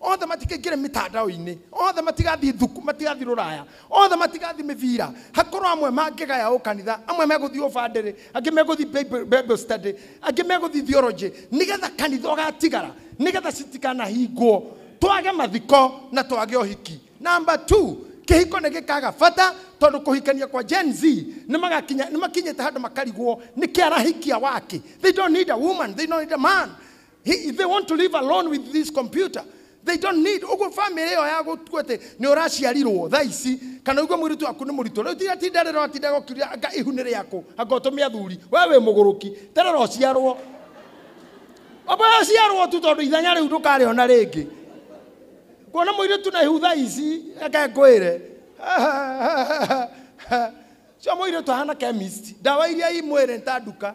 othe matikaingĩre mĩtandao-inĩ othe matigathiĩ thuku matigathiĩ rũraya othe matigathiĩ mĩbira hakorwo amwe mangĩgaya ũ kanitha amwe megũthiĩ ũbandĩrĩ angĩ megũthiĩ Bible- bible study angĩ megũthiĩ theology nĩgetha kanitha ũgatigara nĩgetha citikanahingwo twage mathiko na twage ũhiki namba 2 kĩhiko nĩ gĩkaga bata tondũ kũhikania kwa gen z nĩ magakinya- nĩ makinyĩte handũ makarigwo nĩ kĩarahikia wake they don't need a woman they don't need a man He, they want to live alone with this computer they don't need uguo family ĩyo ya gũtua atĩ nĩ ũraciarirwo tha ici kana uguo mũirĩtu waku nĩ mũritũ rĩu tiga tinda rĩra watinda gũkiria anga ihu nĩ rĩaku anga ũtũme athuri we wĩ mũgũrũki terera ũciarwo oboya ũciarwo tu tondũ ithenya rĩu ndũkarĩona rĩngĩ kuona mũirĩtu na ihu tha ici reke ngwĩre cio mũirĩtu ahana chemist ndawa iria imwĩrĩ nta nduka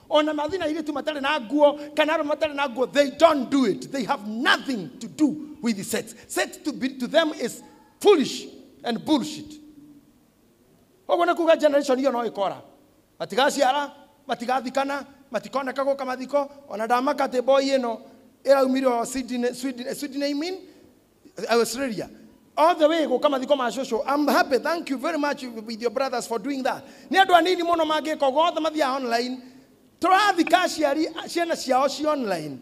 ona mathi na airĩtu matarĩ na nguo kana arũme matarĩ na nguo they don't do it they have nothing to do with the sex sex to, be, to them is foolish and bullshit ũguo nĩ kuga generation iyo no ĩkora matigaciara matigathikana matikoneka gũka mathiko ona ndamaka atĩ boy ĩno ĩraumire o Sydney- Sweden- Sydney mean Australia all the way gũka mathiko ma cũcũ I'm happy thank you very much with your brothers for doing that nĩ andũ anini mũno mangĩka ũguo othe mathiaga online tũrathika aciari ciana ciao ci online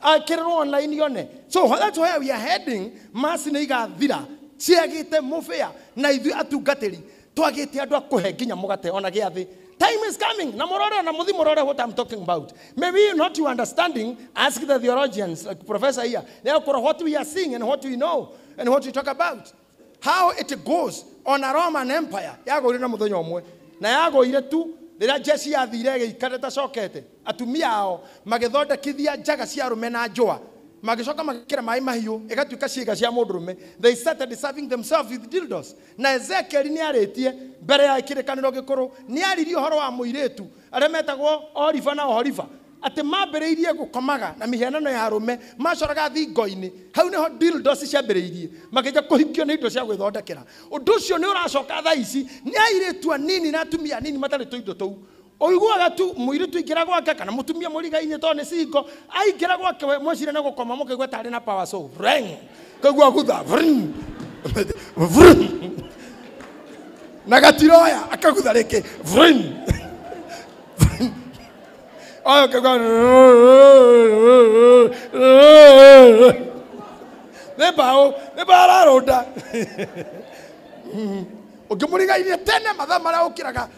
akĩrĩrwo online yone so that's where we are heading maci nĩ igathira ciagĩte mũbĩa na ithuĩ atungatĩri twagĩte andå a kå he nginya må gate ona gä a thä time is coming na må rore na må thi må rore what I'm talking about maybe you not you understanding ask the theologians like professor here they are kora what we are seeing and what we know and what we talk about how it goes on a Roman empire yagåire na må thenya å mwe na yagåire tu rä rä a jeshi yathire ä gä ikare tacokete atumia ao magä thondekithia njaga cia rå me na njåa magĩcoka magĩkĩra maĩ mahiũ ĩgatuĩka ciĩga cia mũndũ rũme they started serving themselves with dildos Na Ezekieli nĩarĩtie mbere ya kĩrĩkanĩro gĩkũrũ, nĩaririe ũhoro wa mũirĩtu arĩa metagwo Oliva na Oholiva, atĩ maambĩrĩirie gũkomaga na mĩhianano ya arũme maacoraga thingo-inĩ, hau nĩho dildos ciambĩrĩirie, makĩnjia kũhikio nĩ indo cia gwĩthondekera. Ũndũ ũcio nĩ ũracoka thaa ici nĩ airĩtu anini na atumia anini matarĩ tũindo tũu. Ũiguaga tu mũirĩtu aingĩra gwake kana mũtumia mũrigainĩ tondũ nĩ singo aingĩra gwake we mwecire nĩ gũkoma mũkaigua tarĩ na power so reng kaigua gutha vrn, vrn. na gatiroya akagutha rĩngĩ vrn, vrn. oyo kaigua nĩ mbaũ nĩ mbaũ ararũnda ũngĩmũrigairie tene mathaa marĩa ũkĩraga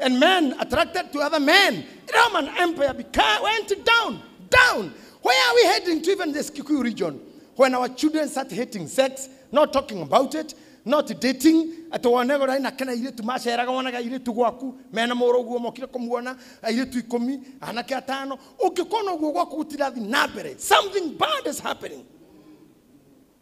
And men attracted to other men. Roman Empire beca- went down, down. Where are we heading to even this Kikuyu region? When our children start hating sex, not talking about it, not dating, atĩ wone gora ina kana airĩtu maceraga wonaga airĩtu gwaku mena mũrũ guo mokire kũmuona airĩtu ikũmi anake atano ũngĩkona ũguo gwaku gũtirathiĩ na mbere something bad is happening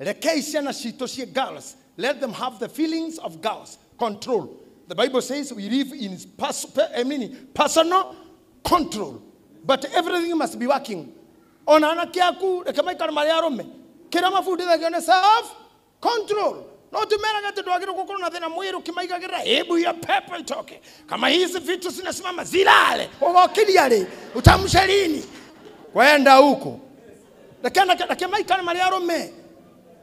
Rekei ciana citũ ciĩ girls. Let them have the feelings of girls. Control. The Bible says we live in pers- pe- I mean, personal control. But everything must be working. Ona anake aku reke maikare marĩ arũme. Kĩrĩa mabundithagio nĩ self control. No tumerage ati ndwagĩrĩirwo gũkorwo na thĩna mwĩrĩ ũkĩmaigagĩrĩra hebu hiyo pepo itoke. Kama hizi vitu zinasimama zilale. Ugokiria rĩ? Utamsha lini? Kwenda huko. reke reke reke maikare marĩ arũme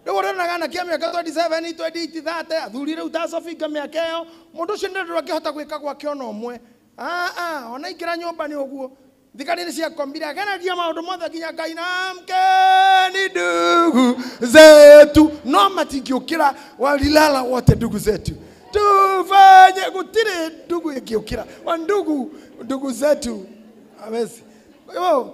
rĩu ũrĩonaga anake a mĩaka 27 28 30 athuri rĩu ta sofinga mĩaka ĩyo mũndũ ũcio nĩ ndũra angĩhota gwĩka gwake ona ũmwe Ah, ah, ona ingĩra nyũmba nĩ ũguo thigari nĩ ciakombire agereria maũndũ mothe nginya ngai na mkeni ndugu zetu no matingĩũkĩra walilala wote ndugu zetu tufanye gũtirĩ ndugu ĩngĩũkĩra wa ndugu ndugu zetu awezi kwa hivyo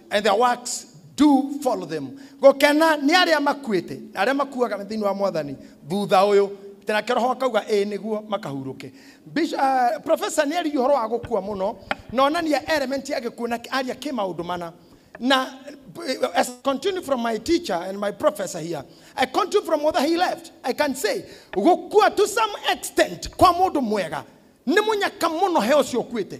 and their works do follow them gũkena nĩ arĩa makuĩte na arĩa makuaga thĩinĩ wa mwathani thutha ũyũ tĩ nake roho akauga ĩĩ nĩguo makahurũke Bish- ah, professor nĩ aririe ũhoro wa gũkua mũno na onania element ya gĩkuũ na aria kĩ maũndũ mana na eh, as I continue from my teacher and my professor here i continue from whether he left i can say gũkua to some extent kwa mũndũ mwega nĩ mũnyaka mũno he ũcio ũkuĩte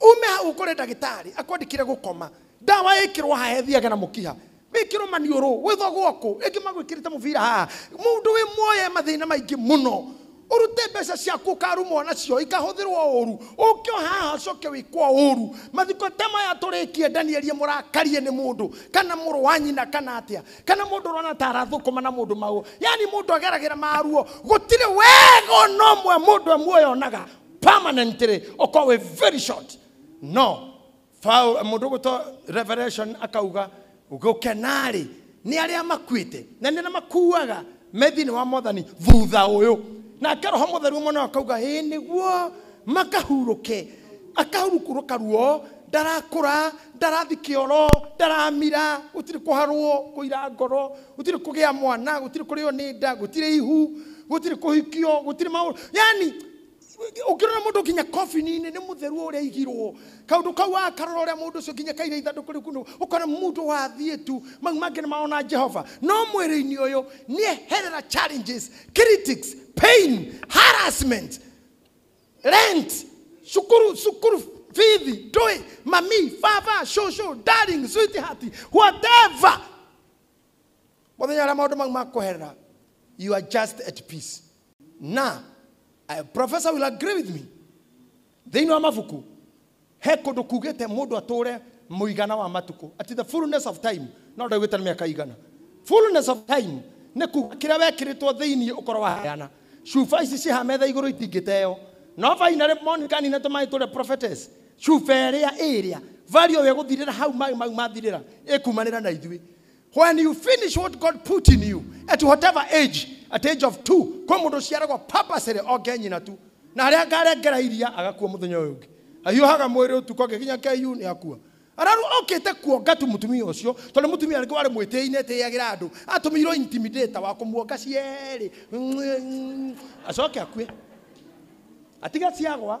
ume hau ukore ndagitari akwandikire gukoma ndawa ikirwo haha ethiage na mukiha wikirwo maniuru gwithwo gwoku ringi magwikirite mubira haha mundu wi muoye mathina maingi muno urute mbeca ciaku ukarumwo nacio ikahuthirwo uru ukio haha ucoke wikwo uru mathiko ta maya turikie ndanierie murakarie ni mundu kana muru wa nyina kana atia kana mundu urona ta arathukuma na mundu mau yani mundu ageragira maruo gutire wega ona umwe mundu amwe onaga permanently uko we very short no Paul- mũndũ gwĩtwo revelation akauga gũkenarĩ nĩ arĩa makuĩte na nĩ arĩa makuaga me thĩinĩ wa mwathani thutha ũyũ nake roho mũtheru mwana akauga ĩ nĩguo makahurũke akahurũkũrũka ruo ndarakũra ndarathi kĩoro ndaramira gũtirĩ kũharwo kũira ngoro gũtirĩ kũgĩa mwana gũtirĩ kũrĩo nĩ nda gũtirĩ ihu gũtirĩ kũhikio gũtirĩ maũndũ yani ũngĩrora mũndũ nginya kobini-inĩ nĩ mũtheru ũrĩa aigirwo kaũndũ kau akarora ũrĩa mũndũ ũcio nginya kaire ithandũkũ rĩu kũndũ ũkona mũndũ wathiĩ tu mau mangĩ nĩ maona jehova no mwĩrĩ-inĩ ũyũ nĩ eherera challenges critics pain harassment rent cukuru cukuru bithi ndũĩ mami baba shosho darling sweetheart whatever mũthenya ũrĩa maũndũ mau makũherera you are just at peace na uh, professor will agree with me thĩinĩ wa mabuku he kũndũ kugĩte mũndũ atũre mũigana wa matukũ at the fullness of time no ndaugĩte nĩ mĩaka igana fullness of time nĩ kuga kĩrĩa wekĩrĩtwo thĩinĩ ũkorwo waheana cuba ici ciha metha igũrũ itingĩteo no finally monica nina tũmaĩ tũrĩa prophetess Cuba ĩrĩa ĩrĩa value we gũthirĩra hau maĩ mau mathirĩra ĩkumanĩra na ithuĩ when you finish what God put in you at whatever age at age of two kwĩ mũndũ ũciaragwo purposely onge nyina tu na harĩa ngarengera iria agakua mũthenya ũyũ ũngĩ ahiũhaga mwĩrĩ ũtukũ angĩkinya KU nĩ akua araru okĩte kuonga tu mũtumia ũcio tondũ mũtumia rĩngĩ warĩ mwĩtĩi nĩ ĩtĩagĩra andũ atũmĩirwo intimidator wa kũmuonga cierĩ acoke akue atiga ciagwa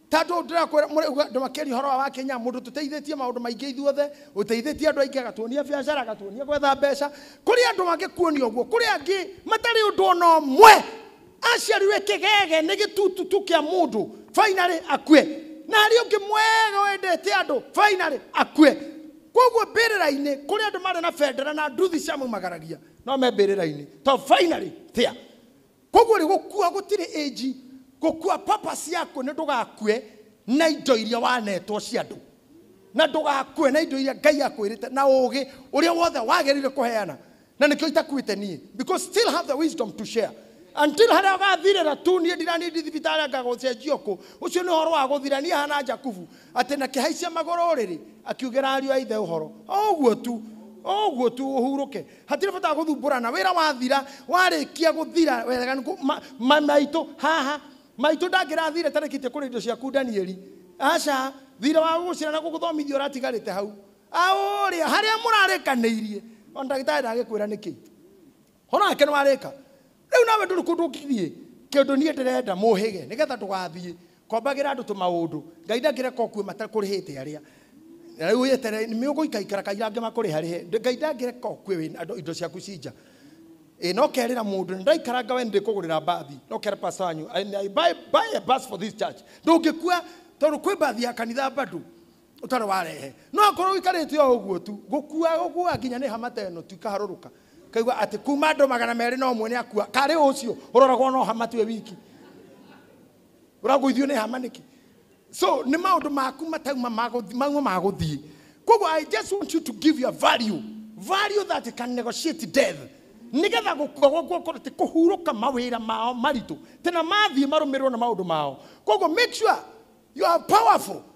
Ta tũ ndĩrakwĩra mũrĩ uga andũ makĩria ũhoro wa wakinya mũndũ tũteithĩtie maũndũ maingĩ ithuothe ũteithĩtie andũ aingĩ agatuonia biacara agatuonia gwetha mbeca kũrĩ andũ angĩ kuonia ũguo kũrĩ angĩ matarĩ ũndũ ona ũmwe aciarirwe kĩgege nĩ gĩtututu kĩa mũndũ finally akue na harĩ ũngĩ mwega wendete andũ finally akue koguo mbĩrĩra-inĩ kũrĩ andũ marĩ na bendera na nduthi cia maumagaragia no me mbĩrĩra-inĩ to finally thĩa Koguo rĩ, gũkua gũtirĩ age, gũkua purpose yakuo nĩ ndũgakue na indo iria wanetwo cia andũ, na ndũgakue na indo iria Ngai akwĩrĩte na ũgĩ ũrĩa wothe wagĩrĩire kũheana, na nĩkĩo itakuĩte niĩ because still have the wisdom to share until harĩa ũgathirĩra tu, niĩ ndira need thibitarĩ anga gũcenjio kũ, ũcio nĩ ũhoro wa gũthira, niĩ hana Jakubu atĩ na kĩhaicia magũrũ rĩrĩ, akiugĩra ariũ a ithe ũhoro, o ũguo tu, o ũguo tu, ũhurũke. Hatirĩ bata wa gũthumbũrana. Wĩra wathira, warĩkia gũthira wega nĩ kũ- ma- ma- maitũ haha. Maitũ ndangĩrathire tarĩkĩtie kũrĩa indo ciaku Danieli. Aca, thirĩ wa gũgũcira na gũgũthomithia ũratigarĩte hau. Aũrĩa, harĩa mũrarĩkanĩirie. O ndagĩtarĩ ndagĩkwĩra nĩkĩ. Horo wake nĩ warĩka. Rĩu nawe ndũrĩ kũndũ ũngĩthiĩ. Kĩndũ niĩ ndĩrenda mũhĩge nĩgetha ndũgathiĩ. Kombagĩra andũ tũmaũndũ. Ngai ndangĩreka ũkue matakũrĩhĩte arĩa. Na rĩu wĩyeterere nĩ ũgũikaikara kaira angĩ makũrĩharĩhe. Ngai ndangĩreka ũkue wĩ andũ indo ciaku ci nja. Ĩ no kerĩra mũndũ nĩ ndaikaranga we nĩ ndĩkũgũrĩra mbathi. No kera pastor wanyu I buy, buy a bus for this church. Ndũngĩkua tondũ kwĩ mbathi ya kanitha bado ũtarĩ warehe. No akorwo ũikarĩte o ũguo tu, gũkua ũkuaga nginya nĩ hama ta ĩno tu ikaharũrũka. Ũkaigua atĩ kuma andũ magana merĩ na ũmwe nĩ akua. Karĩ ũcio ũroragwo no hama tiwe wiki. ũragũithio nĩ hama nĩkĩ so nĩ maũndũ maku matauma magũthi- mauma magũthiĩ koguo i just want you to give your value value that can negotiate death nĩgetha gũkua gwakwa gũkorwo atĩ kũhurũka mawĩra mao maritũ tena mathiĩ marũmĩrĩrwo na maũndũ mao koguo make sure you are powerful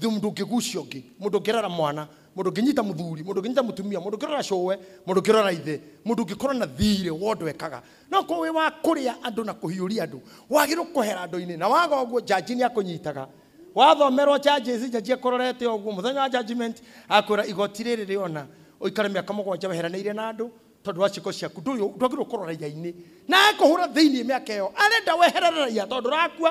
Thum ndũngĩgucia ũngĩ, mũndũ ũngĩrera mwana, mũndũ ũngĩnyita mũthuri, mũndũ ũngĩnyita mũtumia, mũndũ ũngĩrora cũwe, mũndũ ũngĩrora ithe, mũndũ ũngĩkorwo na thiirĩ wa ũndũ ekaga. No ũkorwo wĩ wa kũrĩa andũ na kũhiũria andũ, wagĩrĩirwo kũhera andũ-inĩ. Na waga ũguo, njanji nĩ akũnyitaga. Wathomerwo charges, njanji akũrorete o ũguo, mũthenya wa judgment, agakwĩra igooti rĩrĩ rĩona ũikare mĩaka mũgwanja weheranĩire na andũ tondũ wa ciĩko ciaku. Ndũyũ, ndwagĩrĩirwo kũrora raiya-inĩ. Na agĩkũhũra thĩinĩ mĩaka ĩyo, arenda weherere raiya tondũ ndũrakua.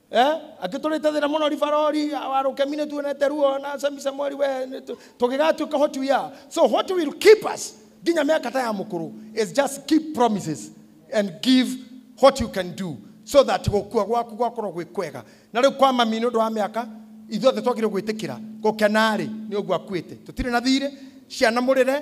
Eh, akĩtũrĩte thĩna mũno ribarori our rũkemi nĩ tuonete ruo na semi samueli we nĩ tu- tũgĩgatuĩka what we are so what will keep us nginya mĩaka ta ya mũkũrũ is just keep promises and give what you can do so that gũkua gwaku gwakorwo gwĩ kwega na rĩu kwa mami nĩ ũndũ wa mĩaka ithuothe twagire gwĩtĩkĩra gũkena-rĩ nĩ ũguo akuĩte tũtirĩ na thirĩ ciana mũrĩre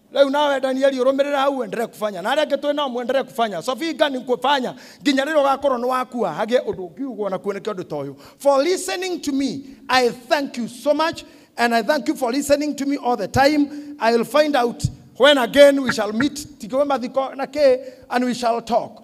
rĩu nawe danieli ũrũmĩrĩra hau uendelee kufanya na arĩa angĩ twĩ nao muendelee kufanya sofinga ni kufanya nginya rĩrĩa ũgakorwo nĩ wakua hagĩe ũndũ ũngiugwo na kuoneke ũndũ ta ũyũ for listening to me i thank you so much and i thank you for listening to me all the time i will find out when again we shall meet tikiwe mathiko na kĩ and we shall talk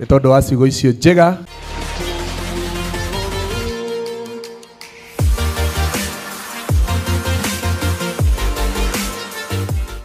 nĩ tondå wa ciugo icio njega